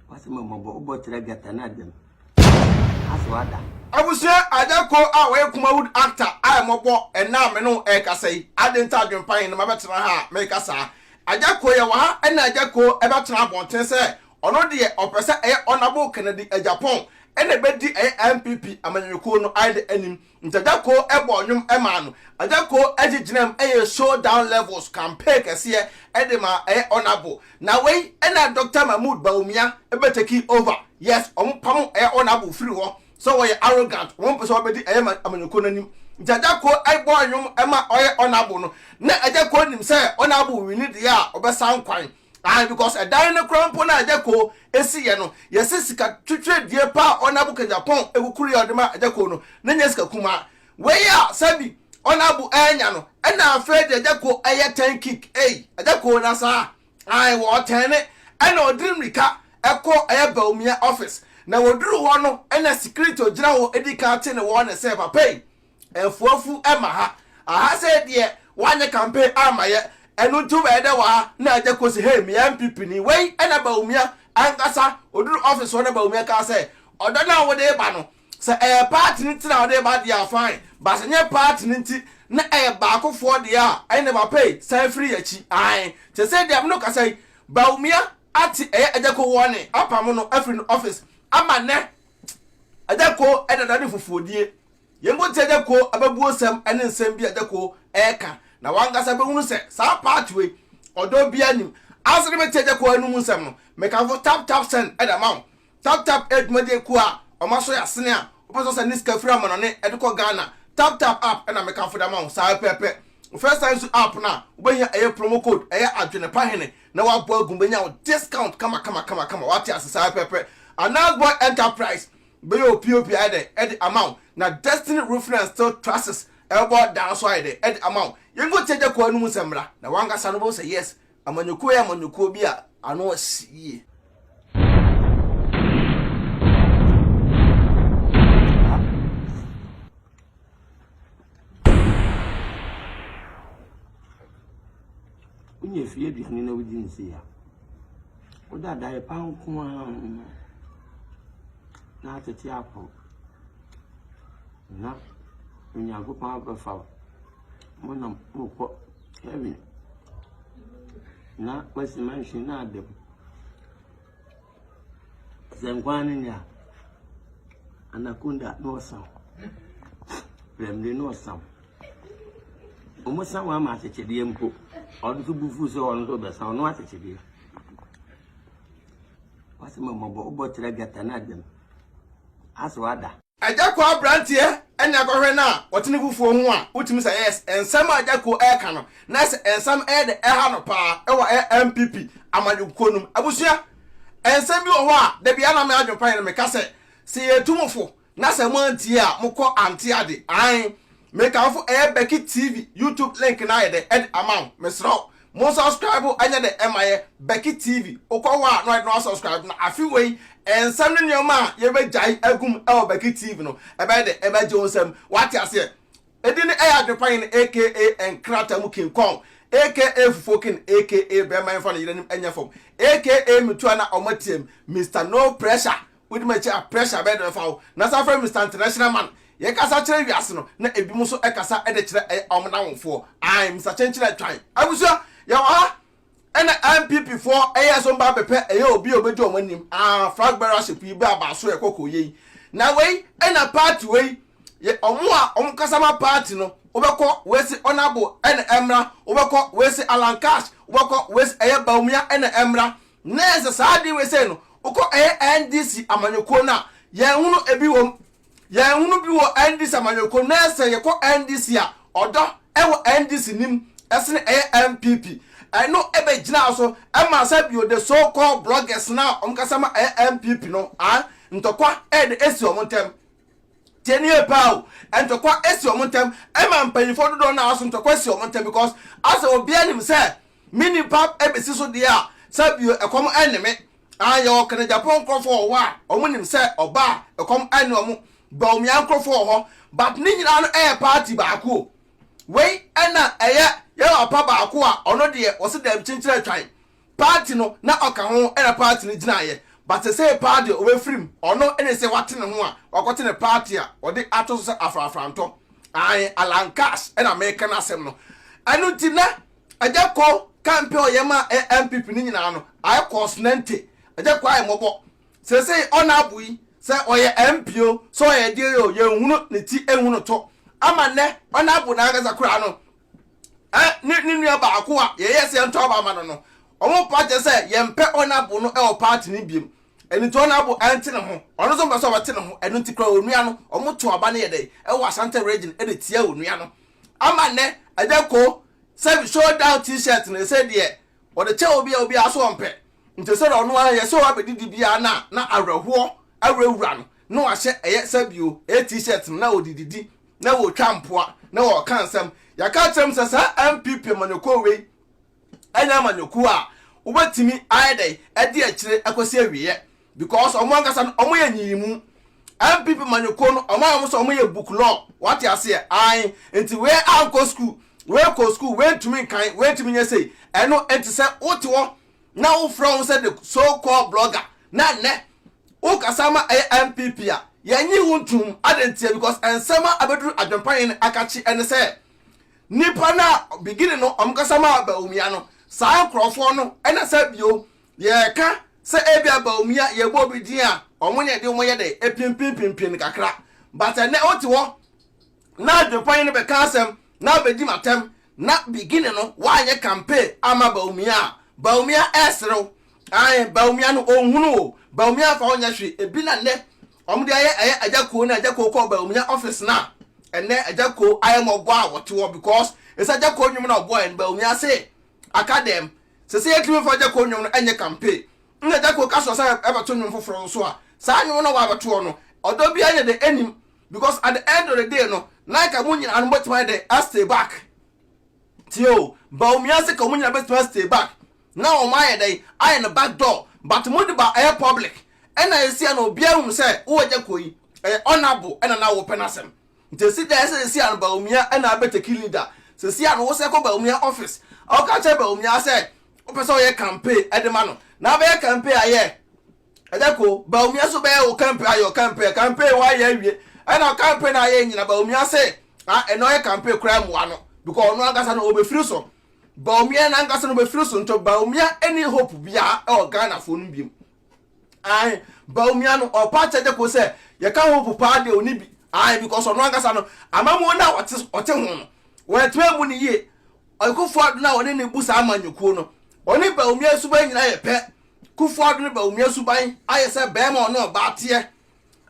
Wase ma mɔbɔ wobɔ kyerɛ gata na dɛm ase wada. Abusua Agyako a ɔyɛ Kumawood actor a ɛmɔbɔ ɛnnɛ a me ne wo ɛrekasa yi, adɛn nti a adwempa he ne mabɛtena ha a mereka saa? Agyako, yɛwɔ ha ɛnna Agyako ɛbɛtena abɔnten sɛ ɔno deɛ ɔpɛ sɛ ɛyɛ Honourable Kennedy Agyapong ɛna ɛbɛdi ɛyɛ NPP amanyɔkuo no ayɛdɛ anim. Nti Agya Koo bɔɔ nnwom maa no. Agya Koo de gyinaam yɛɛ Show Down Levels campaign kɛseɛ de maa ɛyɛ Honourable. Na wei na Doctor Mahmood Bawumia bɛ takii over. Yes, wɔn pamo ɛyɛ Honourable firi hɔ sɛ ɔyɛ arrogant, wɔn mpɛ sɛ ɔbɛdi ɛyɛ amanyɔkuo no anim. Nti Agya Koo bɔɔ nnwom maa ɔyɛ Honourable no. Na Agya Koo nim sɛ Honourable wini deɛ a ɔbɛsan kwan. Ae, because ɛdan no koraa mpo no a Adjako ɛsiiɛ no, yɛse sika twetwedie pa a Honourable Kejapong ɛkukuruiɛ a ɔde maa Adjako no, na ɛnyɛ sika kumaa. Wei a sɛbi Honourable ɛɛnya no, ɛna afei deɛ Adjako ɛyɛ turn kick, ei, Adjako na saa, ae, wɔɔtɛɛne, ɛna ɔdiri mmirika ɛkɔ ɛyɛ Bawumia office, na wɔduru hɔ no ɛna security ɔgyina hɔ ɛdi kan te ne warning sɛ, papa ei, Afuafu ma ha. Aha sei deɛ wanyɛ campaign amma yɛ. Ɛno nti wobɛyɛ dɛ wɔ ha na agya Kosi hey meyɛ NPP ni. Wei na Bawumia ankasa ɔduru office hɔ na Bawumia kaa sɛ ɔdɔ no a wode reba no sɛ ɛyɛ party no nti na wode reba deɛ a fine but sɛ nyɛ party no nti na ɛyɛ baakofoɔ deɛ a ɛnneɛ papa ei san firi yɛakyi ae te sɛ deɛ me no kasa yi Bawumia ate ɛyɛ agya ko wɔne apamo no afiri no office ama nnɛ agya ko ɛdada ne fufuodie Yɛn mpo nti Agya Kuo abɛbuosɛm ne nsɛm bi a Agya Kuo reka na wankasa bɛhunu sɛ saa part wei ɔdɔ biara nnim. Ansa na mɛtie Agya Kuo anum nsɛm no, mekamfo Tap Tap Send de ama wo. Tap Tap yɛ dwumadie kuo a wɔn asɔ yɛ asene a wopɛ sɛ ɔsɛ ne sika firi amanɔne de kɔ Ghana. Tap Tap App na mekamfo de ama wo saa pɛpɛ. Wofrɛ Sign Su App no a, wobɛhia ɛyɛ promo code ɛyɛ Adwene Pa Hene na woabɔ agu mu bɛnya wo discount kama kama kama kama wate ase saa pɛpɛ. Anaz Boy Enterprise Bɛyɛ o pop ayɛ dɛ ɛde ama wo na destiny roofing and steel trusses ɛbɛbɔ dan nso ayɛ dɛ ɛde ama wo. Yɛnkɔ ntie agya Kuawu no mu nsɛm mmra na wankasa no wobɛhu sɛ yes amanyɔkuo yɛ amanyɔkuo bi a ano asi yie. Wonya fie aduane na wodi nsi a, Wode adayɛ pa nko ara na atete apɔ, na Onyankopɔn abɛfa wo. Monam mokɔ heaven, na wasi mansion no ada mu. Sɛ nkwa no nya Anaconda na ɔsam, prɛmde na ɔsam. Wɔsan wɔn ama asekyedeɛ mpo. Ɔno nso bo fuu sɛ ɔno nso ɔbɛsan ɔno asekyedeɛ. Wasɛ ma mɔbɔ wobɔ kyerɛ gata no adam. Asɛ wada. Agya Ko abranteɛ ne akɔhwɛ no a ɔte ne fufuo ho a wotumi sɛ yes nsɛm a Agya Ko ɛreka no na sɛ nsɛm ɛyɛ dɛ ɛha no paa ɛwɔ ɛyɛ NPP amanyɔkukuo no mu abusua nsɛm bi wɔ hɔ a dabiara na me adwen pa yɛ no meka sɛ sɛ yɛtu mo fo Na sɛ mo antie a mo kɔ ante ade ae me kamfo ɛyɛ Becky TV YouTube link no ayɛ dɛ ɛde ama wo mesrɛ wo mo subscribe ɛnyɛ dɛ ɛma yɛ Becky TV wokɔ hɔ a na ɔyɛ dɛ na wa subscribe na afe wei nsɛm ne nneɛma a yɛbɛ gyae agum ɛwɔ Becky TV no ɛbɛyɛ dɛ ɛbɛ gye wo nsam wate aseɛ ɛdi ne ɛyɛ adwepanyin aka nkrata mu king kong aka fufuo king aka bɛrima yɛmfa no yere anim ɛnyɛ fam aka metua na ɔmo atiam Mister no pressure Wodi m'akyi a, pressure bɛyɛ dɛn bɛfa wo? Na saa frɛ Mister International Man. Yɛkasa kyerɛ wiase no, na ebinom nso kasa de kyerɛ ɛyɛ wɔn nnamfoɔ. Ae, Mister Kyenkyen Atwan. Abusua, yɛwɔ ha. Ɛna NPP foɔ yɛɛ so mba bɛpɛ ɛyɛ obi a obedi wɔn anim. Aah, flag bearer ship yi bɛ abaa so ɛkɔ kɔ yei. Na wei ɛna party wei yɛ wɔn a wɔn kasa ma party no. Wobɛkɔ wesi Honourable ɛna ɛmmra, wobɛkɔ wesi Alan Cash, wobɛkɔ wesi ɛyɛ Bawumia ɛna ɛmmra. Na sɛ saa ade wei sei no, wokɔ ɛyɛ NDC amanyɔkuo no a, yɛn hunu ebi wɔ mu. Yɛn hunu bi wɔ NDC amanyɔkuo no, na sɛ yɛkɔ NDC a, ɔdɔ ɛwɔ NDC nim ɛsene ɛyɛ NPP. Ɛno ɛbɛ gyinaa so ɛmaa sɛ bio the so called bloggers no a wɔn kasa ma ɛyɛ NPP no, a ntɔkwa ɛde ɛsi wɔn ntɛm. Tie ne yie paa o, ntɔkwa ɛsi wɔn ntɛm, ɛma mpanyinfoɔ dodoɔ no ara so ntɔkwa si wɔn ntɛm because asɛ obiara nim sɛ Me nipa besi so deɛ a, sɛ bio ɛkɔm ɛnne me. Aah yɛwɔ Kanajapɔn nkorɔfoɔ wɔ hɔ a ɔmo nim sɛ ɔba a ɛkɔm ɛnne ɔmo. Bawumia nkorɔfoɔ wɔ hɔ. But ne nyinaa no ɛyɛ party baako o. Wei ɛna ɛyɛ yɛn papa baako a ɔno deɛ ɔse daabi kyenkyere atwan. Party no na ɔka ho ɛna party no gyinaeɛ. But sesei paa deɛ ɔbɛfiri mu. Ɔno ne sɛ wate ne ho a wakɔte ne party a ɔde ato so sɛ afrafrantɔ. Aane Allan Cash ɛna meka n'asɛm no. Ɛno nti na Agya Ko campaign ɔyɛ maa NPP no nyinaa no, I cause no nte. Agya Ko ayɛ mmɔbɔ. Seesei ɔna abo yi, sɛ ɔyɛ MP o, sɛ ɔyɛ ɛdeɛn o, yɛnhunu ne ti, nhu no to. Ama nnɛ, ɔna abo no ankasa koraa no, eh, ne, ne nua baako a yɛyɛɛ sɛ yɛntɔ aba ama no no, wɔmpo akyerɛ sɛ yɛmpɛ ɔna abo no wɔ party no biom. Ɛno nti ɔna abo ɛnte ne ho. Ɔno nso mpɛ sɛ ɔbɛte ne ho. Ɛno nti koraa onua no, wɔto aba no yɛ dɛn, wɔ Asante region de tia onua no. Ama nnɛ ɛnyɛ ko sɛ show down t-shirt no ɛsɛ deɛ wɔde kyɛ obi a obiara so ɔmpɛ. Nti sɛdeɛ ɔno ara yɛ sɛ wabɛdi dibea no a na awerɛhoɔ awurawura no na wahyɛ ɛyɛ sɛ bio ɛyɛ t-shirt no na ɔde didi na ɔretwa mpoa na ɔreka nsɛm. Yɛaka akyerɛ mo sɛ saa NPP amanyɔkuo wei ɛnyɛ amanyɔkuo a wobɛtumi ayɛ dɛn adi akyire kɔsi awieɛ. because ɔmo ankasa no ɔmo yɛ nyiyimu npp manyɔkuo no ɔmo ayɛ ɔmo sɛ ɔmo yɛ book law wate aseɛ ae nti wei ankɔ school wei kɔ school wei ntumi nkan wei ntumi nyɛ sei ɛno nti sɛ wote hɔ na wofrɛ wo sɛ the so called blogger na nnɛ wokasa ma ɛyɛ npp a yɛnyi wo ntum ade nteɛ because nsɛm a abɛduru adwempa yɛn akakye ɛne sɛ nipa no a beginning no ɔmo kasa ma Bawumia no saa nkurɔfoɔ no ɛna sɛ bio Yɛka sɛ ebia Bawumia yɛbɔ obi din a wɔn na ɛde wɔn yɛ dɛ ɛpimpinpimpin no kakra but ɛnɛ wote hɔ na adwempanyin no bɛka asɛm na abɛdi ma tɛm na beginning no woanyɛ campaign ama Bawumia a Bawumia ɛreserew ae Bawumia no ɔnhunu o Bawumia mfa ho nyɛ hwe ebi na nnɛ wɔn de ayɛ ɛyɛ agya kuo na agya kuo kɔ Bawumia office na ɛnɛ agya kuo ayɛ mɔbɔ a wɔte hɔ because ɛsɛ agya kuo nwom na ɔbɔ ɛn Bawumia se aka dɛm Sɛ sɛ yɛtumi fa Gyako nnwom no nyɛ campaign na Gyako ka soɔ sɛ yɛbɛto nnwom foforɔ nso a, saa nnwom no a wabɛtoɔ no, ɔdɔ biara ne dɛn ɛnim because at the end of the day no, na nka mo nyinaa no mobɛtumi ayɛ dɛn a stay back. Tie o, Bawumia se ka wɔn nyinaa bɛtumi a stay back na wɔn ayɛ dɛn ayɛ no back door but mode ba ɛyɛ public ɛna ɛsi a na obiara hunu sɛ wowɔ Gyako yi ɛyɛ honourable ɛna na wopɛ n'asɛm. Nti esi dɛn sɛ sesia no Bawumia na abɛtɛ ki leader? Sesia no wo sɛ kɔ Bawumia office a woka kyerɛ Bawumia sɛ wopɛ sɛ woyɛ campaign de ma no na abɛyɛ campaign ayɛ ɛdɛ ko Bawumia nso bɛyɛ wo campaign ayɛ campaign campaign ho ayɛ awie ɛna campaign na ayɛ nyina Bawumia sɛ a ɛna ɔyɛ campaign koraa mmoa no because ɔno ankasa no ɔbɛfiri so Bawumia no ankasa no ɔbɛfiri so nti Bawumia ɛni hope biara ɛwɔ Ghana foɔ no biom Ae, Bawumia no, ɔpa kyɛ gye ko sɛ yɛka Hope paa deɛ ɔni bi. Ae, because ɔno ankasa no, amamuo no a ɔte, ɔte ho no, wantumi ammu no yie. Ɔyɛ Kufuor-Addo no a ɔne no bu saa amanyɔkuo no. Ɔne Bawumia suban nyinaa yɛ pɛ. Kufuor-Addo ne Bawumia suban ayɛ sɛ barima a ɔne ɔbaa teɛ.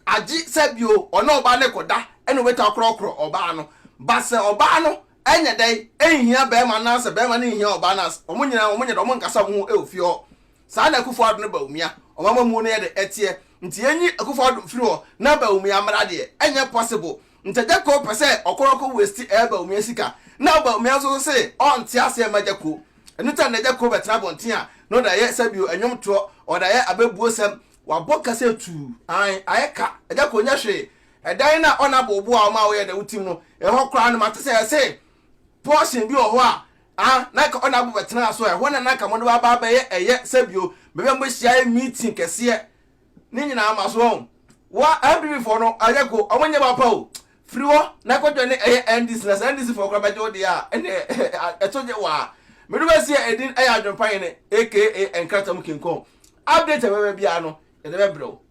Agye sɛ bio, ɔne ɔbaa no rekɔda na ɔbɛtumi akorɔkorɔ ɔbaa no. But sɛ ɔbaa no nyɛ dɛn, nhia barima no anaasɛ barima no nhia ɔbaa no a, wɔn nyinaa, wɔn nyɛ dɛn, wɔn nkasa wɔn ho wɔ fie hɔ. Saa na Akufo Addo ne Bawumia ɔmamamuo no yɛ de ɛteɛ. Nti yɛnyi Akufo Addo mfiri hɔ na Bawumia mmra deɛ, ɛnyɛ possible. Ntagyako pɛ sɛ ɔkɔ no kɔ waste ɛɛ Bawumia sika. Na Bawumia nso so se ɔnte aseɛ mma Gyako. Ɛno nti na nnɛ Gyako bɛtena abɔnten a, na ɔde ayɛ sɛbio ɛnwom toɔ, ɔde ayɛ abɛbuo sɛm, wabɔ kasa atuu. Ae, ayɛ ka, Gyako nyɛ hwee. Ɛdan no a ɔne abooboa a ɔma woyɛ dɛ wotim no, ɛhɔ koraa no mate sɛ ɛse portion bi wɔ hɔ a A, na anka ɔne abo bɛtenaa so. Ɛhɔ na na anka mode waba abɛyɛ ɛyɛ sɛ bio. Baabi a mobɛhyia ayɛ meeting kɛseɛ. Ne nyinaa ma so wɔn. Wa, NPP foɔ no, ayɛ ko, wɔn nyɛ papa o. Firi hɔ na kɔ joine ɛyɛ NDC na sɛ NDC foɔ koraa bɛgye wo deɛ a, ɛnneɛ ɛto gye wo ara. Me do bɛsi yɛ edin ɛyɛ Adwempa Hene aka Nkrataa mu King Kong. Update a ɛbɛba biara no, yɛde bɛbrɛ wo.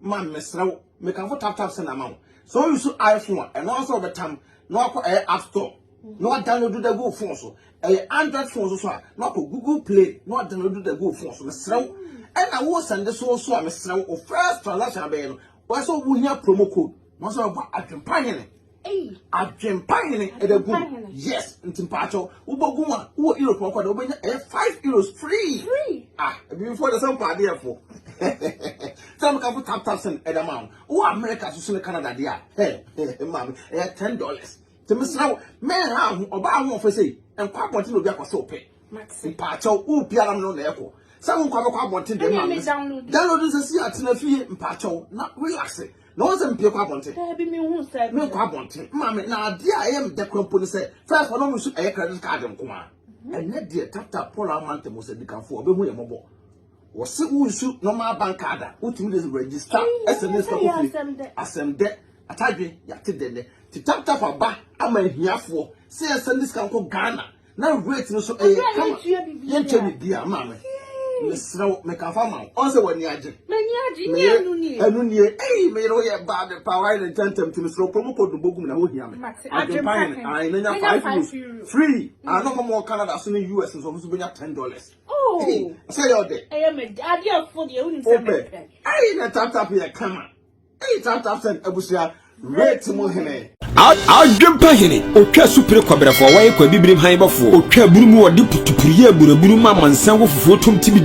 Man mesrɛ wo mekamfo tap tap send ama wo sɛ wo use iPhone a ɛno ara sɛ wɔbɛtam na wakɔ ɛyɛ app store na wadownload da gu wo phone so ɛyɛ android phone so so a na wakɔ google play na wadownload da gu wo phone so mesrɛ wo ɛna wo send so so a mesrɛ wo first transaction abɛyɛ no wɔsɛ wo hia promo code Wọ́n sọ ọkọ adwempahene. Adwempahene ẹ̀dẹ̀ gùn. Yes, nti mpaakyɛw. Wobɔ gùn a, wowɔ Europe ọkọ dẹ̀, wobɛnya ɛyɛ five euros free. Free. Ah, ebi fo de sɛ mpaade yɛ fo. Sɛ mo kan fo tap tap sɛn ɛdɛ ma ho. Wowɔ America so so ne Canada de a, hɛ, hɛ, ma mi, ɛyɛ ten dollars. Sɛ mo sra wo, mɛ ha ho, ɔba ha ho ɔfɛ sɛ, ɛnkɔ abɔnten na obi akɔ sɛ ɔpɛ. Mpaakyɛw, wo biara mi no na ɛkɔ. Sɛ mo nkɔ abɛkɔ abɔnten de ma mi. Download nsɛ si atena fie mpaakyɛw na relax. na wɔn sɛ mpie kɔ abɔnten. Daabi mi hu sɛ. Mi nkɔ abɔnten maame na adeɛ a ɛyɛ mi dɛ kura mpo ni sɛ fɛs wɔn mu nso ɛyɛ credit card nko ara mhm. ɛnɛ deɛ tata paul amante mo sɛ dikanfo ɔbɛ hu yɛ mɔbɔ wɔsi wo nsu normal bank card a wotumi de register ɛsɛ ne sika kofie asɛm dɛ atadwe yate dɛ nɛ ti tap tap aba ama ahiafoɔ sɛ ɛsɛ ne sika nkɔ ghana na weight no so ɛyɛ eh, kama yɛntwɛ ne bia maa me mesrɛ wo meka fa ma wo ɔn sɛ w'ani agye ɛno nie ei meyere wo yɛ baa me paa wayɛ ne ntɛntɛm nti mesrɛ kuro mu kɔ dombo gum na wohia me adwempa hene ae na nya five euros free ano ma mɔ canada so ne us nso ɔmo so bɛnya ten dollars oh. sɛ yɛ ɔdɛ wopɛ ei na taptap yɛ kama Adwempa hene, otwa supere kɔbrɛfoɔ, wɔyɛ kwa bibirim han bɔfoɔ, otwa aburu mu, wɔde putupuru yɛ aburaburu ma amansan wɔ fufuo tom tibidi.